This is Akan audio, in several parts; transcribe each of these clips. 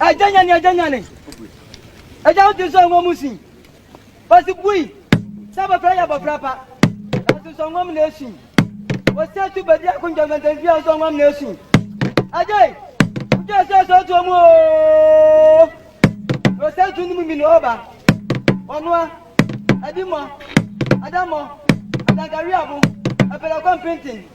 Agya nyane, agya nyane. Agya wo ti so ngo mu sin. Osi bui. Sɛ abɔfra yɛ abɔfra pa. Nanso so ngo mu na esin. Osi atu bedi ako ntɛntɛntɛn fia so ngo mu na esin. Agya yi. Otu ɛsɛ ɛsɛ otu omu ooo. Osi atu nimu mi na ɔba. Ɔnoa. Ɛdi mɔ. Ada mɔ. Adankari abo. Ɛpɛlɛ kɔ mpintin.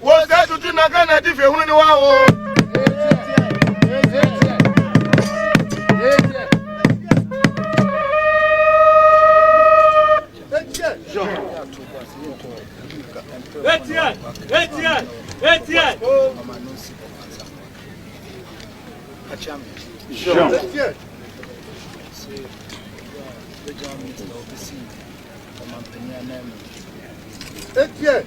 Wo sɛ tutu na ka na ti fɛ hunu ni wa wo. Etienne, Etienne, Etienne. Jean. Etienne. Etienne.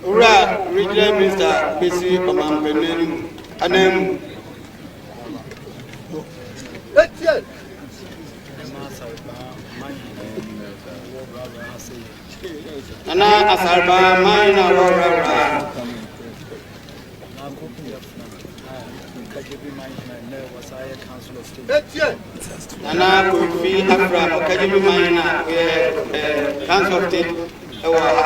Owura Regional Minister besi ɔmanpanin no mu ananmu. Nana Asarba man na wɔwurawura. Nana Kofi Afra Ɔkajebi man na wɔyɛ Council of State ɛwɔ ha.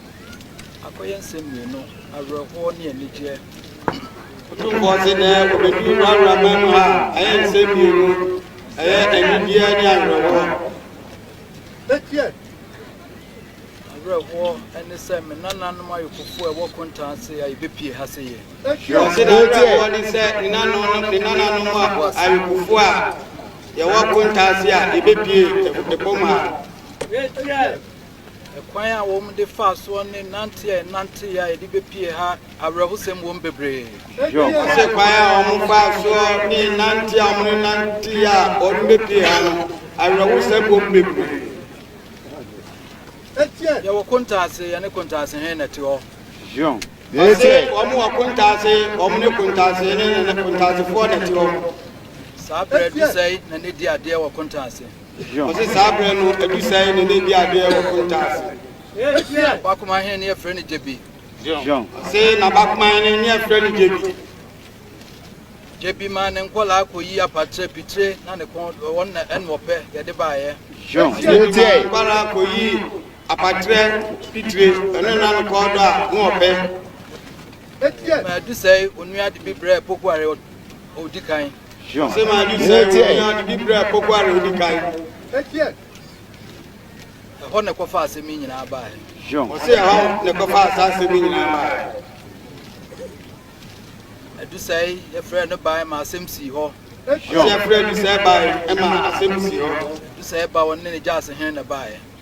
Akɔyɛ nsɛm mmienu, awerɛhoɔ ne anigyeɛ. Otumfoɔ se nɛ obedu w'abrabɔ mu a, ɛyɛ nsɛm mmienu, ɛyɛ anigyeɛ ne awerɛhoɔ. Awerɛhoɔ ne sɛ me nananom ayokofoɔ a ɛwɔ kontaa ase a yɛbɛpie ha se yɛ. Ɔse n'awerɛhoɔ ne sɛ ne nananom ayokofoɔ a yɛwɔ kontaa ase a yɛbɛpie fam ha. Kwan a wɔde faa soɔ ne nanteɛ a yɛnanteeɛ a yɛde bɛpue ha awerɛhosɛm wom bebree. Wɔse kwan a wɔfaa soɔ ne nanteɛ a wɔnanteeɛ a wɔde bɛpue ha no, awerɛhosɛm wom bebree. Yɛwɔ kontaase, yɛne kontaasehene na ɛte hɔ. Wɔse wɔn wɔ kontaase, wɔn ne kontaasehene ne kontaasefoɔ na ɛte hɔ. Saa berɛ aduru sɛe na na ɛdi adeɛ wɔ kontaase. Ɔse saa berɛ no adu sɛn ne ne di adeɛ wɔ konta ase. Bakoma he ne yɛfrɛ no Gyebi. Ɔse na bakoma he ne yɛfrɛ no Gyebi. Gyebi maa ne nkɔlaa kɔyi apatrɛ, pitire na ne kɔn wɔn na ɛne wɔpɛ yɛde baeɛ. Gyebi maa ne nkɔlaa kɔyi apatrɛ, pitire ɛno na ne kɔn dɔ a ne wɔpɛ. Madu sɛe onua de bi brɛɛ Pokuare ɔ odi kan. Ɔsɛ Madu sɛe onua de bi brɛɛ Pokuare odi kan. Ɛhɔ na ɛkɔfa asɛm yi nyinaa baeɛ. Ɔsɛ ɛhɔ na ɛkɔfa saa asɛm yi nyinaa baeɛ. Adu sɛe yɛfrɛ no bae ma asɛm sii hɔ. Ɔsɛ yɛfrɛ Adu sɛe bae ma asɛm sii hɔ. Adu sɛe ba wɔne ne gya ase hene na baeɛ.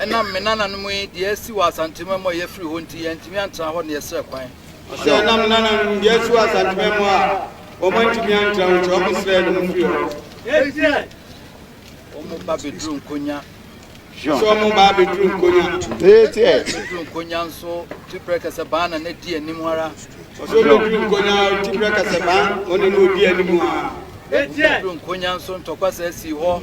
Ɛnam me nananom yi deɛ asi wɔ Asantuma mu a yɛfiri hɔ nti, yɛantumi antra hɔ na yɛsrɛ kwan. Ɔse ɛnam me nananom deɛ asi wɔ Asantuma mu a wɔn antumi antra hɔ nti wɔn srɛɛ no mofiri hɔ. Ɛnsiɛ wɔn ba bɛduru Nkonya. Ɔse wɔn ba bɛduru Nkonya. Ɛnsiɛ bɛduru Nkonya nso Tiprɛ Kɛsɛbaan na na di anim ara. Ɔse ɔbɛduru Nkonya Tiprɛ Kɛsɛbaan ɔne na ɔdi anim ara. Ɛnsiɛ bɛduru Nkonya nso ntɔkwa saa sii hɔ.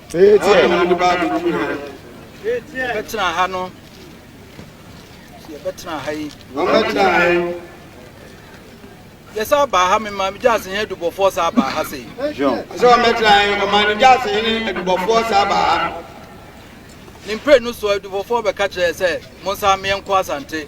Ɛyɛ na ade baa bɛduru ha. Yɛbɛtena ha no. Yɛbɛtena ha yi. Wɔbɛtena ha yi. Yɛsa baa ha me maame gyaase hene adubɔfoɔ saa baa ha sei. Sɛ wɔbɛtena ha yi, ɔmaame gyaase hene adubɔfoɔ saa baa ha. Ne mpire no soɔ adubɔfoɔ bɛka kyerɛ sɛ monsa meɛ nkɔ asante.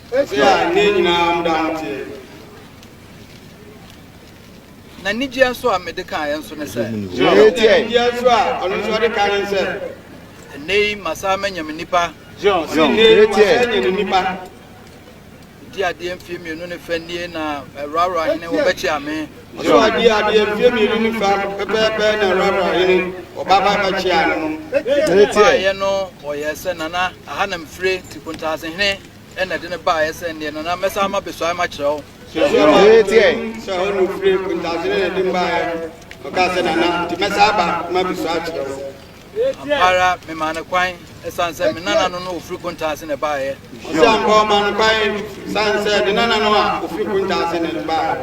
Ɔsɛ a nna nyinaa mo da mo teɛ. N'anigyeɛ nso a mede kaeɛ nso ne sɛ. Gyina hɔ. Ɔsɛ anigyeɛ nso a ɔno nso ɔde kaeɛ ne sɛ. Ɛnnɛ yi masan manya me nipa. Gyina hɔ. Ɔsɛ nnɛ yi masan anya ne nipa. Di adeɛ mfie mmienu ne fɛ nie na Rawra hene wɔbɛkyea me. Ɔsɛ ɔdi adeɛ mfie mmienu ne fɛ pɛpɛɛpɛ na Rawra hene wɔbaba bɛkyea no. Mebaeɛ no wɔyɛɛ sɛ, Nana, aha na mefire, Nkontaasehene. ɛna ɛde no baeɛ sɛ nneɛ na na mɛsan ma bɛsuae ma kyerɛ wo. Tiɛ. Sɛ ɔno firi kuntasene na ɛde baeɛ ɔka sɛ nana nti mɛsan aba ma bɛsua akyerɛ wo. Ampara memaa no kwan ɛsiane sɛ me nana no no ɔfiri kuntaase na ɛbaeɛ. Ɔsɛ ampa ɔma no kwan ɛsiane sɛ ne nana no a ɔfiri kuntaase na ɛde baeɛ.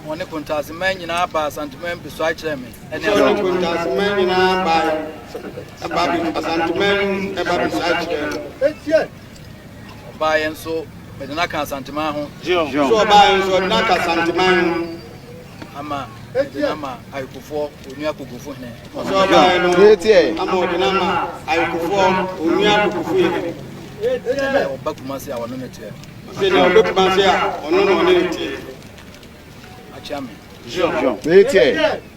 Wɔne kuntaase man nyinaa baa Asanteman bɛsua akyerɛ me. Ɛne ɔne kuntaase man nyinaa baa Asanteman ɛba bɛsua akyerɛ me. Ɔbaeɛ nso mede no aka Asanteman ho. So ɔbaeɛ nso ɔde no aka Asanteman ho. Ama ɔde no ama Ayekofoɔ Onua Kogofo hene. So ɔbaeɛ no ama ɔde no ama Ayekofoɔ Onua Kogofo hene. Sɛdeɛ ɔba Kumase a ɔne no teɛ. Sɛdeɛ ɔba Kumase a ɔno na ɔne no teɛ. Akyea me. Meteɛ.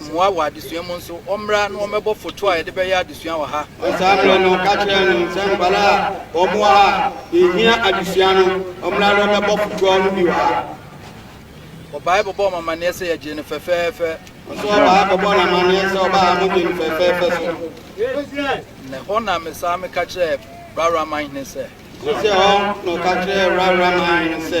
mmoa wɔ adesua mu nso, wɔmmra na wɔmmɛbɔ foto a yɛde bɛyɛ adesua wɔ ha. Saa berɛ no, ka kyerɛ no sɛ nkwadaa a wɔn wɔ ha a yɛhia adesua no, wɔmmra na wɔmmɛbɔ fotoɔ no bi wɔ ha. Ɔbaa bɛbɔ wɔn amanneɛ sɛ yɛgyee no fɛfɛɛfɛ. Nso ɔbaa bɛbɔ no amanneɛ sɛ ɔbaa mo gyee no fɛfɛɛfɛ so. Na ɛhɔ na mesaa meka kyerɛɛ Rawraman hene sɛ. Nso sɛ hɔ na ɔka kyerɛɛ Rawraman hene sɛ.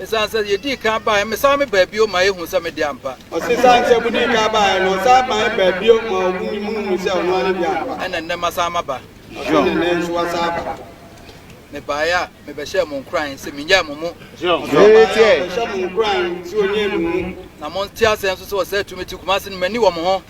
Esiane sɛ yedii kan bae, mesan mebaa bio ma ehu sɛ me de ampa. Ɔse esiane sɛ modii kan bae no, ɔsan mae baa bio ma ɔhu ne mu hu sɛ ɔno ara ne de ampa. Ɛna nnɛ masan maba. Ɔse na nnɛ nso wasan aba. Mebaeɛ a mebɛhyɛɛ mo nkuran sɛ mennyae mo mu. Ɔse ɔbaeɛ a ɔbɛhyɛ mo nkuran sɛ ɔnnyae mo mu. Na monte aseɛ nso sɛ ɔsɛe tumi te Kumasi no, manni wɔn ho.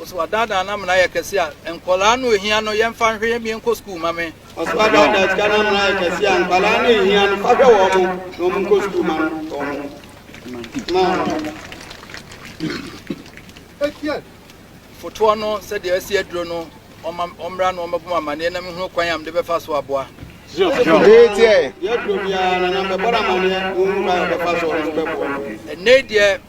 Ɔso adaadaa no amena ayɛ kɛse a nkwadaa no hia no, yɛmfa nhwɛ yɛn mmea nkɔ sukuu ma me. Ɔso adaadaa sika no amena ayɛ kɛse a nkwadaa no hia no, fa hwɛ wɔn na wɔn nkɔ sukuu ma no wɔn. Ma wɔn. Fotoɔ no, sɛdeɛ asi aduro no, ɔma ɔmmra na ɔmmɛbɔ amaneɛ na mehunu kwan a mede bɛfa so aboa. Ɛnɛ deɛ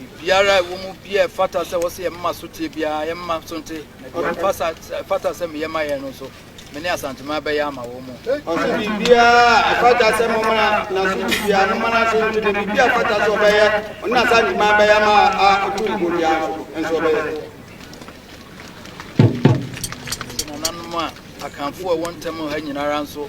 Biribiara a ɛwɔ mu biara ɛfata sɛ wɔsɛ yɛn mma so tie biara yɛn mma so nte na deɛ ɛfasa ɛfata sɛ meyɛ ma yɛn no nso me ne asanteman bɛyɛ ama wɔn mu. Ɔsɛ biribiara a ɛfata sɛ mo mana na so ti biara mo mana so nte na biribi a ɛfata sɛ ɔbɛyɛ ɔne asanteman bɛyɛ ama a ɔtu mpo biara nso nso ɔbɛyɛ. Nananom a akanfoɔ a ɛwɔ ntam ha nyinara nso